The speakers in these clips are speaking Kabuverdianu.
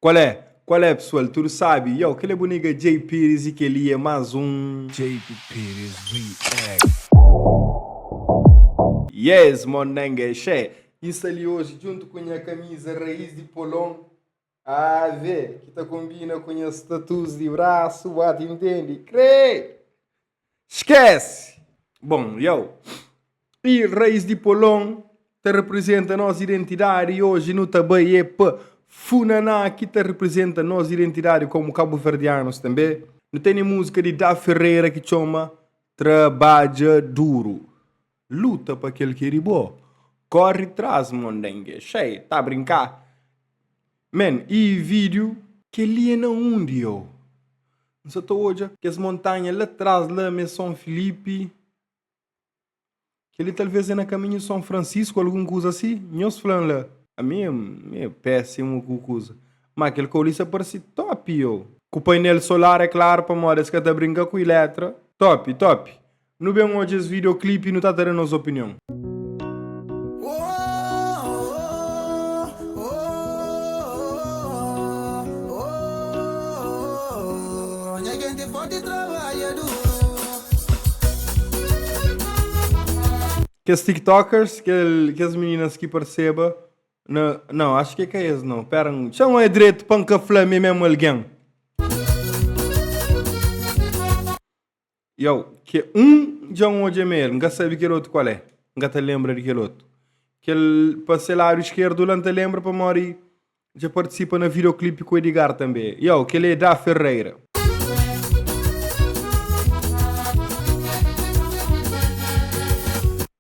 Qual é? Qual é pessoal? Tudo sabe? Yow kel é bu nigga Jay Pires e kel li é más um. Jay Pires React. Yes mon nenge xé! Bin sta li oji djuntu ku nha kamiza Raiz di Polon Ave! Ki ta konbina ku nhas tattoos di brasu, ba ta intendi, kre! Skese! Bon, jau i Rais di Polon ta reprizenta nos identidadi i oji nu ta bai e pa Funaná ki ta reprizenta nos identidadi komu kabuverdianus tanbe. Nu tene musika di Da Ferreira ki txoma Trabadja Duru. Luta pa kel ki é di bo. Kori tras mondenge. Xei, ta brinká? Men, i vídiu. Kel-li é na undi eu. N sa ta odja. Kes montanha la tras la mê Son Filipi. Kel-li talvês é na kaminhu Son Francisco, algun kuza si. Nhos fla-m la. Ami é meio pésimu ku kuza. Má kel Kaulista parse tópi eu. Ku painel solar, é klaru, pamodi es ka ta brinka ku ilétra. Tópi, tópi. Nu ben odja es videoclip y nu ta ta da nos opinion. Kes tiktokers, kel kes meninas ki parseba na, nau acho ke ka es nau, pera n chama e dretu pa n ka fla mi é mesmo alguém. Jau, ke un dja N odja ma el, N ka sabe kel otu kual é, N ka ta lenbra di kel otu. Kel pa se ladu iskerdu la N ta lenbra pamodi dja partisipa na videoclipe ku Edgard tanbe. Jau, kel é Da Ferreira.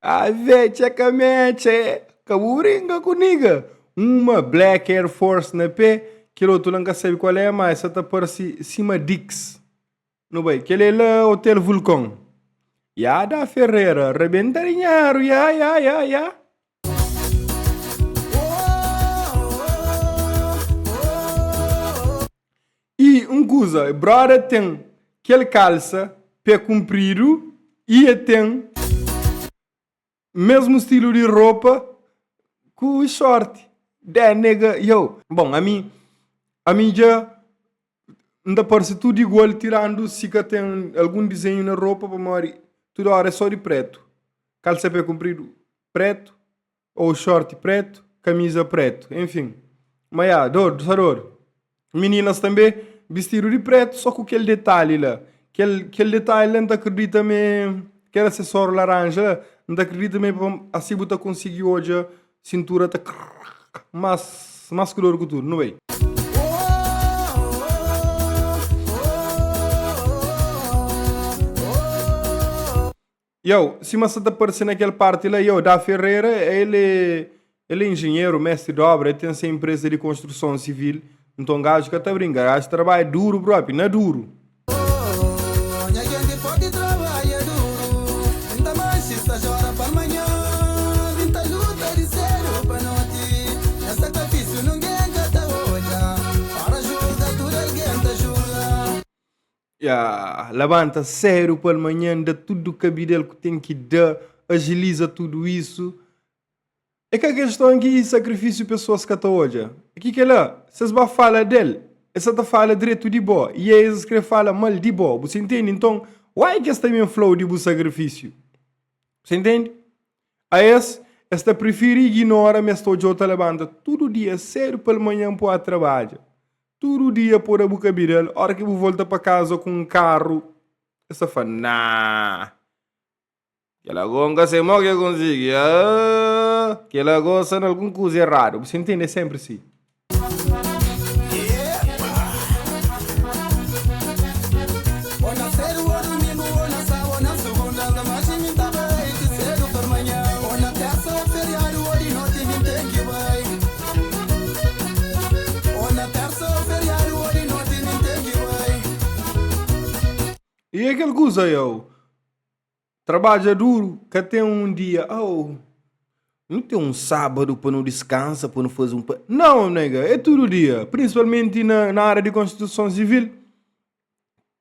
Ave, txekame, txe, ka bu brinka ku niga. Uma black Air Force na pé, kel otu la N ka sabe kual é, ma es sa ta parse sima Dicks. Nu bai kele la hotel vulcon. Ya da ferreira rebenta dinheiro ya ya ya ya. E um kuza brother ten kel kalsa pé kunpridu e e ten. Mesmu stilu di ropa ku i sorti. Dé, nega, yow. Bon, ami, ami dja N ta parse tudu igual tirandu si ka ten algun dizenhu na ropa pamodi tudu óra é só di prétu, kalsa pé kunpridu prétu ô xorti prétu, kamiza prétu, enfin. Ma ya, Dodu, sa Dodu. Meninas tanbe bistidu di pretu so ku kel detali la kel detali la nta kridita ma e kel asesoru laranja la nta kridita ma e pa asi bu ta konsigi odja sintura ta mas klur ku tudu nu bai. Yow, sima sa ta parse na kel parti la, yow, Da Ferreira, el é, el é injenheru, mestri di obra, el ten se enpresa di konstruson sivil, nton gaju ka ta brinka, gaju trabadja duru propi, na duru! Oooh, nha genti podi trabadja duru Nta manxi sta jora pa manha Bin ta luta di sedu pa noti Nha sakrifisiu nungen ka ta odja Ora julga tudu algen ta julga. Ya, labanta séru pal manhan, da tudu kabidel ku ten ki da, ajiliza tudu isu. É ka keston ki sakrifisiu pesoas ka ta odja. É ki kela, si es ba fala del, es sa ta fala dretu di bo y é es kre fala mal di bo, bu sa intendi? Nton, wai ki es ta ben flau di bu sakrifisiu? Bu sa intendi? A es, es ta prifiri iginora ma es ta odjau ta labanta tudu dia séru pal manhan pua trabadja. Tudu dia poda bu ka bira-l. Óra ki bu volta pa kaza ku un karu, el sta fla, Nah! Kel ago N ka sai mó ki el konsigi. Aaah! Kel ago sta na algun kuza eradu. Bu sintende? É sénpri si. E é kel kuza eu Trabadja duru, ka ten un dia au Nu ten un sábadu pa nu diskansa, pa nu faze un pa Nau nega, é tudu dia, prinsipalmenti na na área di konstituison sivil.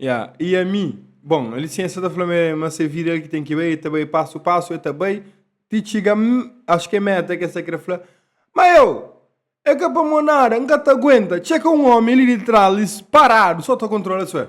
Yeah. E a mi? Bom, a licença tá falando é, mas é vida que tem que ir, tá bem passo passo, é tá bem, te chega, acho que é meta que essa quer falar. Mas eu, é que para mim nada, nunca tá aguenta, chega um homem ali de trás, parado, só tá controla isso é.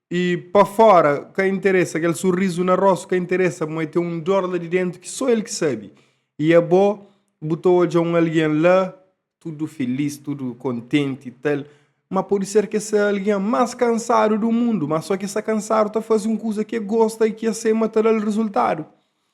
I pa fora ka interesa, kel sorrizu na rostu ka interesa, ma e ten un dor la di dentu ki so el ki sabi. I abo bu ta odja un algen la tudu filis, tudu kontenti i tal, ma podi ser ki es é algen mas kansadu du mundu, ma so ki es ta kansadu ta fazi un kuza ki e gosta i ki e sai ma ta dal rizultadu.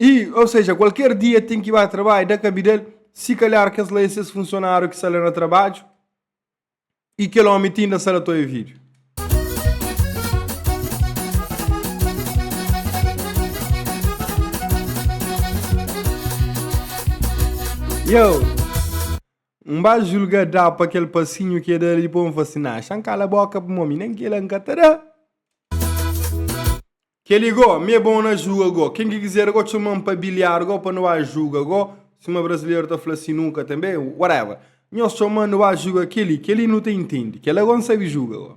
i ou seja kualker dia ten ki ba trabadju da kabidel si kalhar kes la é ses funsionáriu ki sta la na trabadju i kel omi ta inda sa la toi vídiu. Yow! N ba julga da pa kel pasinhu ki e da li dipô n fla si, nah, xa n kala boka pa mo mi nen kel la n ka ta da. Kel-li gó, mi é bon na juga gó. Ken ki kizer gó, txoma-m pa biliar gó, pa nu ba juga gó. Sima brasileru ta fla si nunka tanbe, whatever. Nhos txoma-m, nu ba juga kel-li. Kel-li nu ta intende. Kel-la gó N sabe juga gó.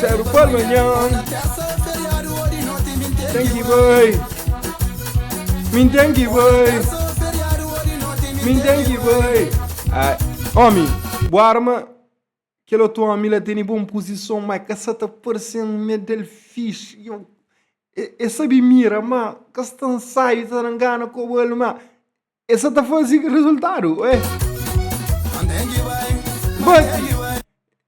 Séru pa manhan Ten ki bai Min ten ki bai Min ten ki bai Ai Omi Bu arma Kel otu omi la tene bon puzison ma ka sa ta parse-m ma é del fixi Iau E, e sabe mira ma ka sta nsaiu ta na ngana kobal ma. E sa ta fazi rezultadu, ué. But,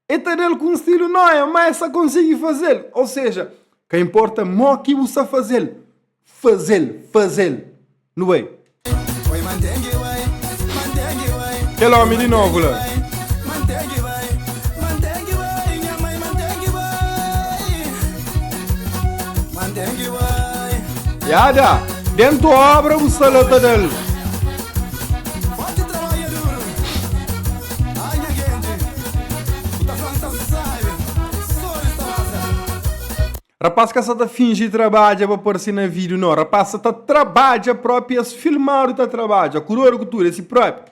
e ta da-l ku un stilu nóia, má el sa konsigi faze-l. Ô seja, ka inporta mó ki bu sa faze-l, faze-l, faze-l. Nu bai. Kel ómi di novu la. Yada, dentro obra bu sta la ta dal. Rapaz ka sa ta fingi trabadja pa parse na vídeo, nau. Rapaz sa ta trabadja propi, es filmadu ta trabadja. Kurodu ku tudu, é si propi.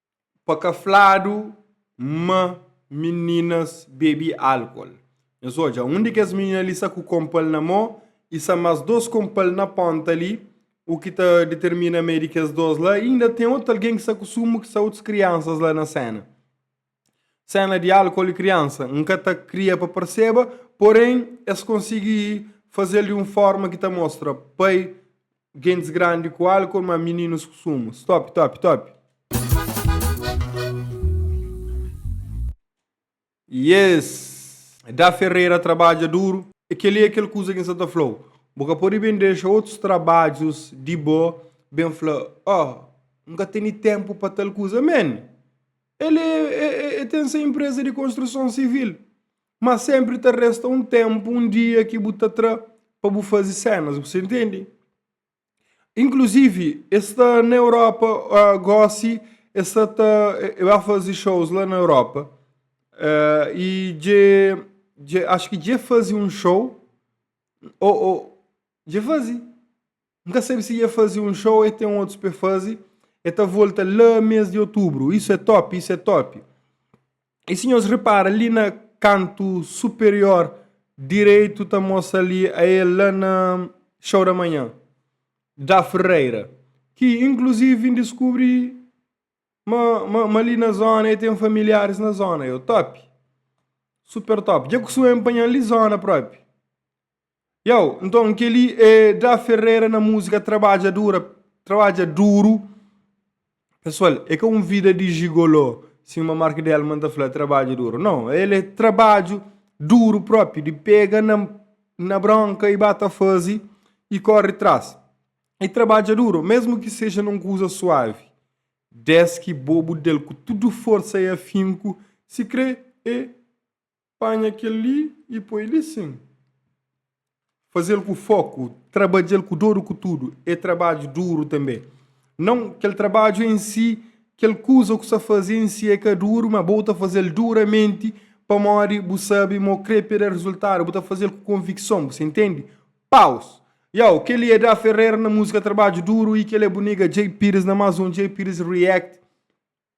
Pa ka fladu ma mininas bebe álkol, nhos odja un di kes minina li sta ku konpa-l na mô i sta más dôs konpa-l na pónta li. U ki ta ditirmina ma é di kes dôs la, inda ten otu algen ki sta ku sumu ki sta otus kriansas la na séna. Séna di álkol i kriansa. N ka ta kria pa parseba, porén es konsigi faze-l di un fórma ki ta mostra pai Gentis grandi ku álkol, má mininus ku sumu. Stop, top, top. Yes! Da Ferreira trabadja duru. É kel-li é kel kuza ki N sta ta fla-u. Bu ka pode ben dexa otus trabadjus di bo ben fla, Oh, N ka tene ténpu pa tal kuza. Men, el é, el ten se inpreza di konstruson sivil. Má sénpri ta resta un ténpu, un dia ki bu ta tra pa bu faze sénas, bu sta intende? Inkluzivi, es sta na Europa ah, gósi, es sta ta. E ba faze shows la na Europa. Ah, i dje. dje acho ki dje faze un show. Ou, ou. dje faze. N ka sabe si e faze un show ou e tem outros pa e faze. E ta volta la mês de outubro. Isso é top, isso é top. E se nhos repara ali na canto superior direito ta mostra ali a e la na show da manhã da Ferreira. Que inclusive vim descobrir ma, ma, ma ali na zona e tem familiares na zona. Eu top. Super top. Já costumo empanhar ali zona próprio. Yow, nton kel-li é dra ferreira na múzika trabadjadura, trabadja duru pesoal, é ka un vida di jigolô sima marc delman ta fla trabadja duru non, el é trabadju duru propi di pega na bronka y ba ta fazi y korri tras y trabadja duru mesmu ki seja na un kuza suavi deski bo bu del ku tudu forsa y afinku si kre é Panha kel-li i poi li sin. Faze-l ku foku, trabadja-l ku doru ku tudu, é trabadju duru tanbê. Nau, kel trabadju en si, kel kuza ku sa faze en si é ka duru, má bo ta faze-l duramenti pamodi bu sabe ma o krê pa el da rezultadu, bu ta faze-l ku konvikson, bu sta intende? Paus. Yow, kel-li é Da Ferreira na múzika Trabadju Duru i kel-li é bu nega Djay Pires na más un Djay Pires React.